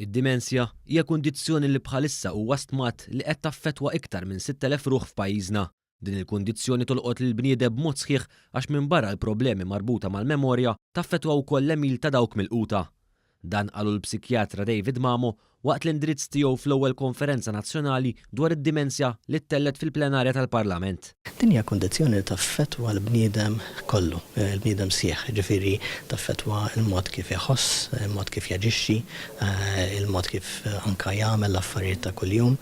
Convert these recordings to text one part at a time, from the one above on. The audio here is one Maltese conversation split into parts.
Id-dimensja hija kundizzjoni li bħalissa huwa stmat li qed taffettwa iktar minn 6,000 ruħ f'pajjiżna. Din il-kundizzjoni tolqot lill-bniedeb b'mod sħiħ għax minbarra l-problemi marbuta mal-memorja, taffettwa wkoll l-għemil ta' dawk milquta. Dan qalu l-psikjatra David Mamo waqt l-indirizz tiegħu fl-ewwel Konferenza Nazzjonali dwar id-Dimensja li ttellgħet fil-plenarja tal-Parlament. Din hija kundizzjoni li taffettwa l-bniedem kollu, il-bniedem sħiħ, jiġifieri taffettwa l-mod kif iħoss, il-mod kif jaġixxi, il-mod kif anke jagħmel l-affarijiet ta' kuljum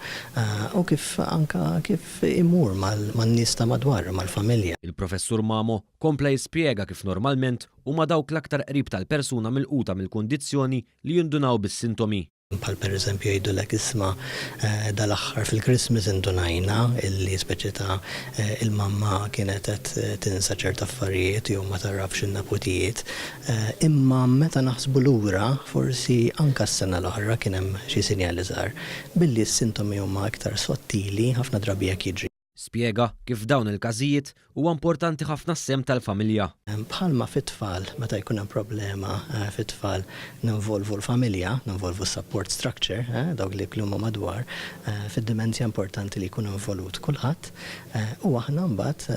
u kif anke kif imur man-nies ta' madwaru, mal-familja. Il-Professur Mamo Kompla jispjega kif normalment huma dawk l-aktar qrib tal-persuna milquta mill-kundizzjoni li jindunaw bis-sintomi. Bħal pereżempju jgħidulek isma' dal-aħħar fil-Christmas indunajna li speċi ta' il-mamma kienet qed tinsa ċert affarijiet jew ma tagħrafx in-neputijiet. Imma meta naħsbu lura forsi anke s-sena l-oħra kien hemm xi sinjali żgħar. Billi s-sintomi huma iktar sottili ħafna drabi hekk jiġri. Spjega kif f'dawn il-każijiet huwa importanti ħafna s-sehem tal-familja. Bħalma fit-tfal, meta jkun hemm problema fit-tfal ninvolvu l-familja, ninvolvu s-support structure, dawk li huma madwar, fid-dimensja importanti li jkun involut kulħadd u aħna mbagħad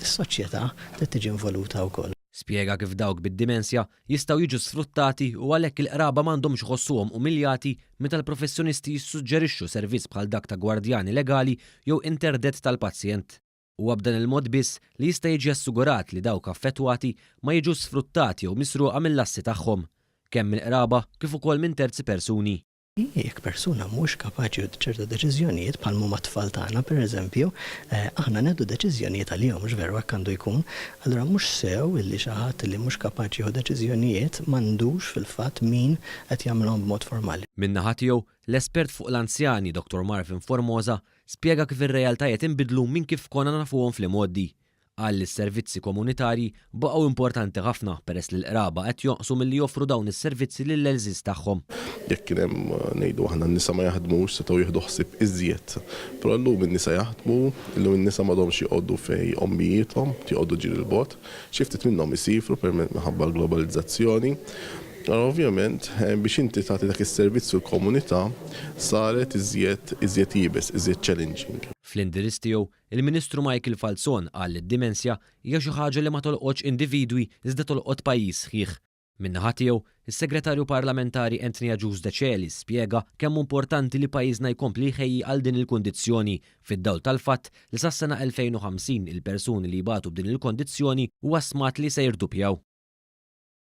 is-soċjetà trid tiġi involuta wkoll. Spjega kif dawk bid-dimensja jistgħu jiġu sfruttati u għalhekk il-qraba ma għandhomx iħossuhom umiljati meta l-professjonisti jissuġġerixxu servizz bħal dak ta' gwardjani legali jew interdett tal-pazjent. Huwa b'dan il-mod biss li jista' jiġi assigurat li dawk affettwati ma jiġux sfruttati jew misruqa mill-assi tagħhom, kemm mill-qraba kif ukoll minn terzi persuni. Jekk persuna mhux kapaċi u ċerta deċiżjonijiet, bħal m'huma t-tfal tagħna, pereżempju, aħna nieħdu deċiżjonijiet għalihom, mhux veru hekk għandu jkun? Allura mhux sew illi xi ħadd li mhux kapaċi jieħu deċiżjonijiet m'għandux fil-fatt min qed jagħmilhom b'mod formali. Min-naħa tiegħu, l-espert fuq l-anzjani, Dottor Marvin Formosa, spjega kif ir-realtajiet inbidlu minn kif konna nafuhom fl-imgħoddi. Qal li s-servizzi komunitarji baqgħu importanti ħafna peress li l-qraba qed jonqsu milli joffru dawn is-servizzi lill-għelżież tagħhom. Jekk kien hemm, ngħidu aħna, n-nisa ma jaħdmux, setgħu jieħdu ħsieb iżjed. Però illum in-nisa jaħdmu, illum in-nisa m'għadhomx joqogħdu fejn ommijiethom, joqogħdu ġir 'il bogħod. Xi ftit minnhom isiefru permezz minħabba l-globalizzazzjoni. Allura ovvjament biex inti tagħti dak is-servizz fil-komunità saret iżjed iżjed iebes, iżjed challenging. Fl-indirizz tiegħu, Il-Ministru Michael Falzon qal li d-dimensja hija xi ħaġa li ma tolqotx individwi iżda tolqot pajjiż sħiħ. Min-naħa tiegħu, is-Segretarju Parlamentari Anthony Agius Decelis spjega kemm hu importanti li pajjiżna jkompli jħejji għal din il-kundizzjoni fid-dawl tal-fatt li sas-sena 2050 il-persuni li jbatu b'din il-kondizzjoni huwa stmat li se jirdupjaw.